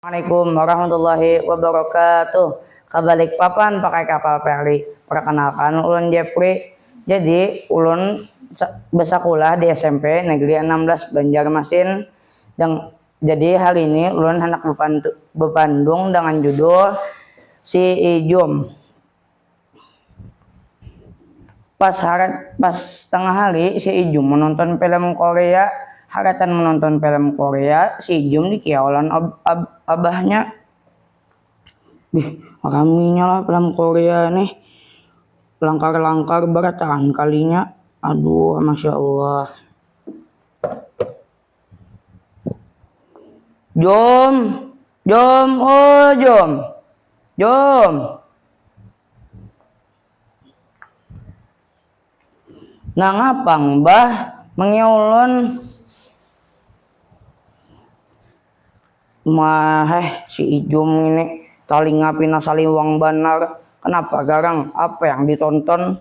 Assalamualaikum warahmatullahi wabarakatuh. Ka Balikpapan pakai kapal ferry. Perkenalkan ulun Jepri. Jadi ulun besakulah di smp Negeri Anam Belas Banjarmasin. Deng jadi hari ini ulun handak bepandung dengan judul Si Ijum. Pas harat pas tangah hari si ijum menonton film korea haratan menonton film korea si ijum di kiau lawan ab ab abahnya, bih raminya lah film korea nih langkar langkar barataan kalinya aduuh masya allah. Jom, jom, oh jom, jom. Nangapang bah mengiulun Maheh si Ijum ini talinga pina saliwang banar, kenapa garang, apa yang ditonton?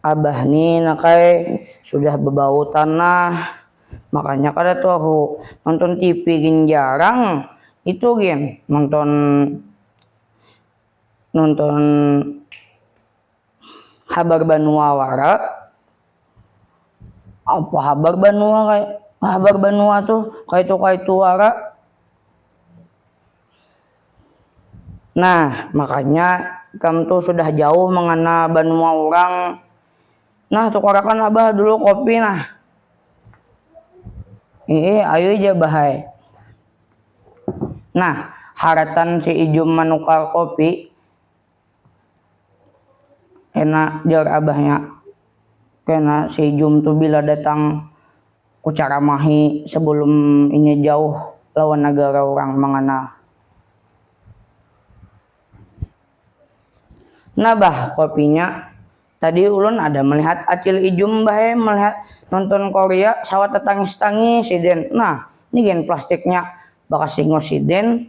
abah ni nak ai sudah bebau tanah makanya kada tahu nonton TV gin jarang itu gin nonton nonton habar banua wara apa habar banua kaya habar banua tuh kaitu kaitu wara. Nah, makanya ikam tu sudah jauh mangana banua urang. Nah, tukarakan lah bah dulu kopi nah. Iih, ayui ja bah ai. Nah, haratan si Ijum manukar kopi. Kena, jar abahnya. Kena si ijum tu bila datang kucaramahi sebelum inya jauh lawan nagara urang mangana. Nah bah kopinya, tadi ulun ada melihat acil ijum bah e melihat nonton korea sawat tatangis-tangis sidin. Nah, ni gin plastiknya bakas hingos sidin.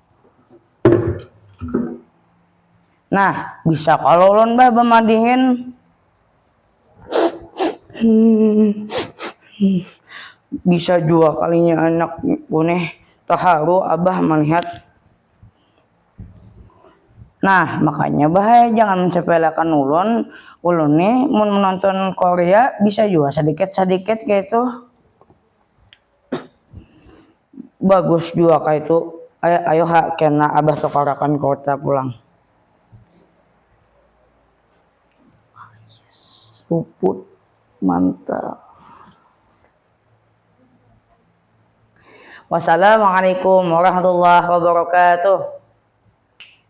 Nah, bisa kalo ulun bah bamadihin. Bisa jua kalinya anakku nih taharu abah malihat. Nah, makanya bah ai jangan mensepeleakan ulun, ulun nih mun menonton korea bisa jua sadikit-sadikit kaytu. bagus jua kaitu ai ayo ha kena abah sokarakan kota pulang. Puput mantap. Wassalamualaikum warahmatullahi wabarakatuh.